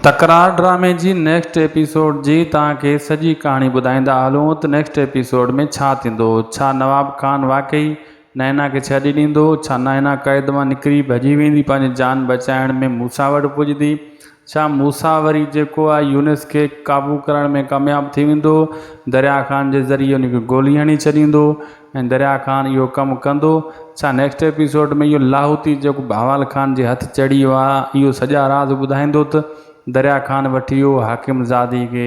تڪرار ڊرامي جي نيڪسٽ ايپيسوڊ جي توهان کي سڄي ڪهاڻي ٻڌائيندا هلون ته نيڪسٽ ايپيسوڊ ۾ ڇا ٿيندو؟ ڇا نواب خان واقعي نائنا کي ڇڏي ڏيندو؟ ڇا نائنا قيد مان نڪري ڀڄي ويندي پنهنجي جان بچائڻ ۾ موسيٰ وٽ پڄندي؟ ڇا موسيٰ وري جيڪو آهي يونس کي قابو ڪرڻ ۾ ڪامياب ٿي ويندو؟ دريا خان جي ذريعي ان کي گولي هڻي ڇڏيندو؟ ۽ دريا خان اهو ڪم ڪندو ڇا نيڪسٽ ايپيسوڊ ۾ اهو لاهوتي جيڪو بهوال خان جي هٿ چڙهي ويو آهي اهو سڄا راز ٻڌائيندو ته دريا خان وٺي ويو هو حاڪم زادي کي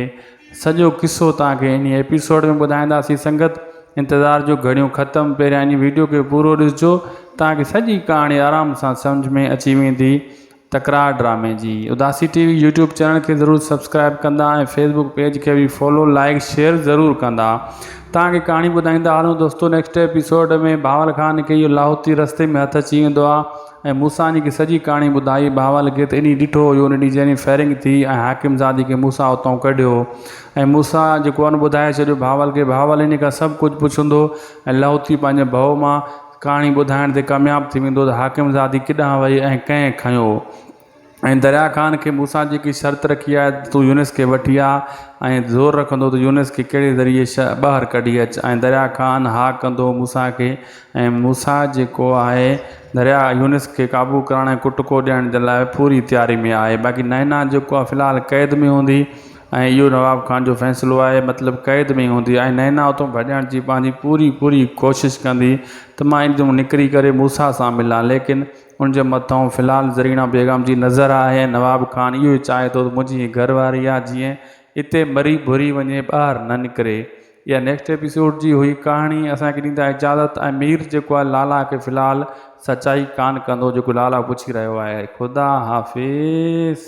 سڄو قصو توهان کي انهي ايپيسوڊ ۾ ٻڌائينداسين سنگت انتظار جو گهڙيون ختم پهريان انهي ويڊيو کي پورو ڏسجو توهان کي سڄي ڪهاڻي آرام سان سمجهه ۾ اچي ويندي تڪرار ڊرامي جي Udasi T V YouTube channel کي ضرور سبسڪرائب ڪندا ۽ فيس بڪ پيج کي به فالو لائيڪ شيئر ضرور ڪندا تان کي ڪهاڻي ٻڌائيندا هلون دوستو نيڪسٽ ايپيسوڊ ۾ بهاول خان کي اهو لاهوتي رستي ۾ هٿ اچي ويندو آ ۽ موسا ني کي سڄي ڪهاڻي ٻڌائي بهاول کي ته اني ڏٺو هيو ان ڏينهن جني فائرنگ ٿي ۽ حاڪم زادي کي موسا اتان ڪڍيو ۽ موسا جيڪو ان ٻڌائي ڇڏيو بهاول کي بهاول اني کان سڀ ڪجهه پڇندو ۽ لاهوتي پنهنجي ڀؤ مان ڪهاڻي ٻڌائڻ تي ڪامياب ٿي ويندو ته حاڪم زادي ڪيڏانهن وئي ۽ ڪنهن کنيو ۽ دريا خان کي مون سان جيڪي شرط رکي آهي ته تون يونس کي وٺي آ ۽ زور رکندو ته يونس کي ڪهڙي ذريعي شهر ٻاهر ڪڍي اچ ۽ دريا خان ها ڪندو موسيٰ کي ۽ موسيٰ جيڪو آهي دريا يونس کي قابو ڪرڻ ۽ ڪٽڪو ڏيڻ جي لاء پوري تياري ۾ آهي باقي نائنا جيڪو آهي في الحال قيد ۾ هوندي ۽ اهو نواب خان جو فيصلو آهي مطلب قيد ۾ هوندي ۽ نينا اتان ڀڄڻ جي پنهنجي پوري پوري ڪوشش ڪندي ته مان هتان نڪري ڪري موسيٰ سان ملان ليڪن ان جي مٿان في الحال زرينه بيگم جي نظر آهي ۽ نواب خان اهو ئي چاهي ٿو ته منهنجي هي گهر واري آهي جيئن اتي مري ڀري وڃي ٻاهر نه نڪري اها نيڪسٽ ايپيسوڊ جي هئي ڪهاڻي اسان کي ڏيندا اجازت ۽ مير جيڪو آهي لالا کي في الحال سچائي ڪانه ڪندو جيڪو لالا پڇي رهيو آهي خدا حافظ.